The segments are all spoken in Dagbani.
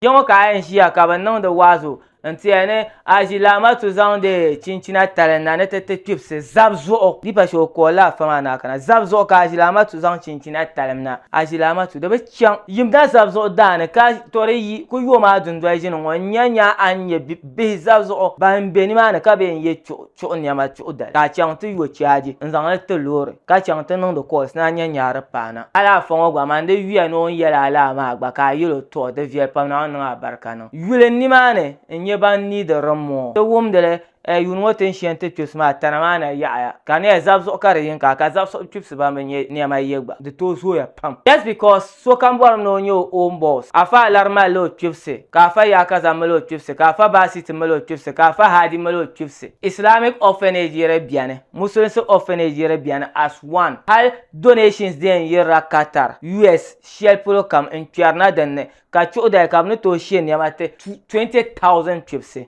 Kpe ŋɔ ka a yɛn ʒiya ka bɛ niŋdi waazu n-ti a ni a ʒi Laamatu zaŋdi chinchina tali na ni ti ti kpibisi zab zuɣu. Dipa shee o kool la afa maa ni a kana zab zuɣu ka a ʒi Laamatu zaŋ chinchina talim na. A ʒi Laamatu di bi chaŋ. Yim na zab zuɣu daa ni ka to di yi ku yo maa dundoli ʒini ŋɔ n-nya nya a ni nya bihi zab zuɣu ban be nimaani ka bee n-ye chuɣu. chuɣu niɛma chuɣu dali ka a chaŋ ti yo chɛaji n-zaŋ li ti loori ka chaŋ ti niŋdi kɔls ni a nya nyaari paana. A daa afa ŋɔ gba man di yuya ni o ni yɛli a laa maa gba ka a yɛl o tɔɔ di viɛli pam Naawuni niŋ a barika niŋ yuli n nimaani n-nyɛ ban niidi rimmɔɔ ti wumdi li ɛɛ yuun ŋɔ tin shɛn ti kpibsi maa tana maa na yaɣiya ka niɛ zab zuɣu ka di yin ka ka zab suɣu kpibsi ban bi nyɛ niɛma ye gba di tooi zooya pam just because Sokam bɔrim ni o nya o own boss. Afa Alari mali la o kpibisi, ka Afa Yaakaza mali o kpibisi, ka Afa Baasiti mali o kpibisi, ka Afa Haadi mali o kpibisi. Islamic orphanage yiri beni, Musulinsi orphanage yiri beni as one. Hal donations di yɛn yirila Qatar, US shɛli polo kam n kpɛrina dinni, ka chuɣu dali ka bɛ ni tooi she nɛma ti 20,000 kpibisi.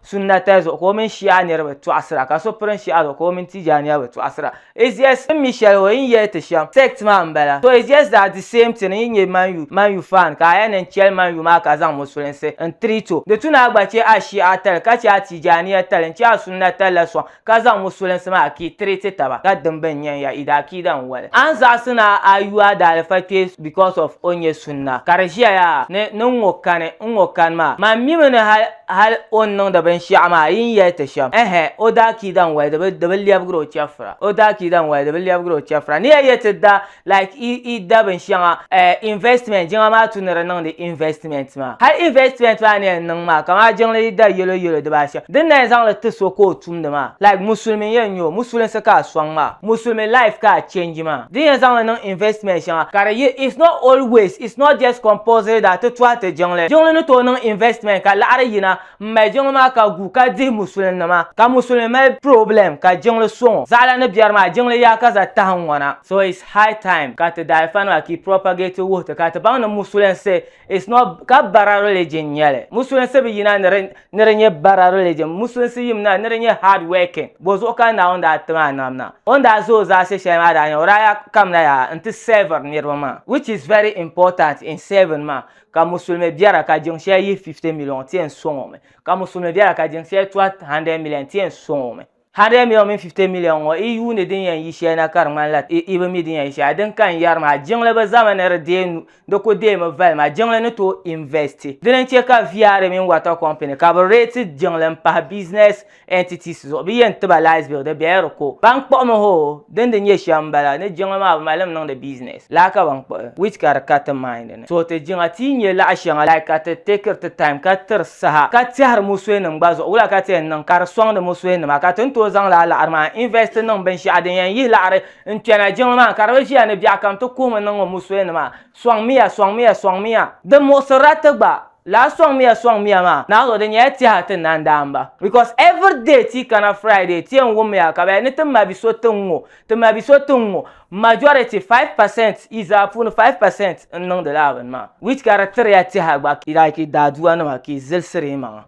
Sunna tali zuɣu ka o mini Shi'a niriba tɔɣisira, ka so pirim Shi'a zuɣu ka o mini Tijaaniya bi tɔɣisira. Izias n mi shɛli o yi ni yɛli ti shɛm, sect maa n bala. To Izias daa di same thing n yi nyɛ Man U Man U fan ka a yɛn niŋ chɛli Man U maa ka zaŋ Musulinsi n treat o. Di tu ni a gba chɛ a Shi'a tali ka chɛ a Tijaaniya tali n chɛ a Sunna tali la sɔŋ ka zaŋ musulinsi maa akii treat taba ka dim bɛn nyɛn ya ida akiida n wali a ni zaɣisi ni a yu a daalifa kpee because of o nyɛ sunna ka di ʒiya yaa ni ni n ŋɔ kani n ŋɔ kani maa man mimi ni hal hal o ni niŋdi binshɛɣu maa yi ni yɛli ti shɛm ɛhɛ o da akiida n wali di bi di bi lɛbigiri o chɛfura o da akiida n wali di bi lɛbigiri o chɛfura ni ya yɛ ti da like i i da binsheŋa eh, investment jiŋa maa tu ni di niŋdi investment maa hal investment maa ni yɛn niŋ maa kamaa jiŋli yi da yelo yelo dibaa shem din na yɛn zaŋli ti so ka o tumdi maa like musulimi n yɛn nyɛ o musulinsi ka a soŋ maa musulimi life ka a change maa din yɛn zaŋli niŋ investment sheŋa ka di yi it's not always it's not just compulsory that ti tuhi ti jiŋli jiŋli ni tooi niŋ investment ka laɣiri yina M mali jiŋli maa ka gu ka dihi musulin nima ka musulin mali problem ka jiŋli soŋɔ zaɣala ni biɛri maa jiŋli yaa ka za tahi n ŋɔna so it's high time ka ti daalifa nima ki propagate wuhi ti ka ti baŋ ni musulinsi it's not ka bara religion n nyɛli musulinsi bi yina ni ni di nyɛ bara religion musulinsi yim na ni di nyɛ hard working bo zuɣu ka Naawuni daa ti maa nam na o ni daa za o zaasi shɛli maa daa nyɛla o daa yaa kamina yaa n ti servir niriba maa which is very important in serving maa ka musulimi biɛra ka jiŋ shɛli yihi 50 miliɔn ti yɛn sɔŋ o mi ka musulimi biɛra ka jiŋ shɛli tɔhi 100 miliɔn ti yɛn sɔŋ o mi 100 miliɔn mini 50 miliɔn ŋɔ i yuuni din yɛn yi shɛli na ka di ŋmanila i bi mi din yɛn yi shɛli din ka n yɛri maa jiŋli bi zami ni di deei nu di ku deemi vali maa jiŋli ni tooi investi dini n-chɛ ka VRA mini water company ka bi reeti jiŋli m-pahi business entities zuɣu bɛ yɛn tiba lies bill di bɛla di ko ban kpuɣimi hoo din di nyɛ shɛm m-bala ni jiŋli maa bi mali li niŋdi business laa ka ban kpuɣi which ka di ka ti mind ni so ti jiŋa ti yi nya laɣ shɛŋa like ka ti takeri ti time ka tiri saha ka tɛhiri musuhinim gba zuɣu wula ka ti yɛn niŋ ka di sɔŋdi musuhinima ka ti ni tooi zaŋ laa laɣiri maa invest niŋ binshɛɣu din yɛn yihi laɣiri n-kpɛna jiŋli maa ka di bi ʒiya ni biɛɣukam ti kuhimi niŋ musuhinima sɔŋmiya sɔŋmiya sɔŋmiya di muɣisirila ti gba Laa sɔŋmiya sɔŋmiya maa naɣis o di nyɛla tɛha ti na n-daa m-ba because every day ti yi kana Friday ti yɛn wummiya ka bɛ yɛli ni ti ma bi so tiŋ ŋɔ ti ma bi so tiŋ ŋɔ majority five percent yi zaa puuni five percent n-niŋdi lala bini maa which ka di tiriya tɛha gba like daadua nima ka yi zilsiri yi maŋa.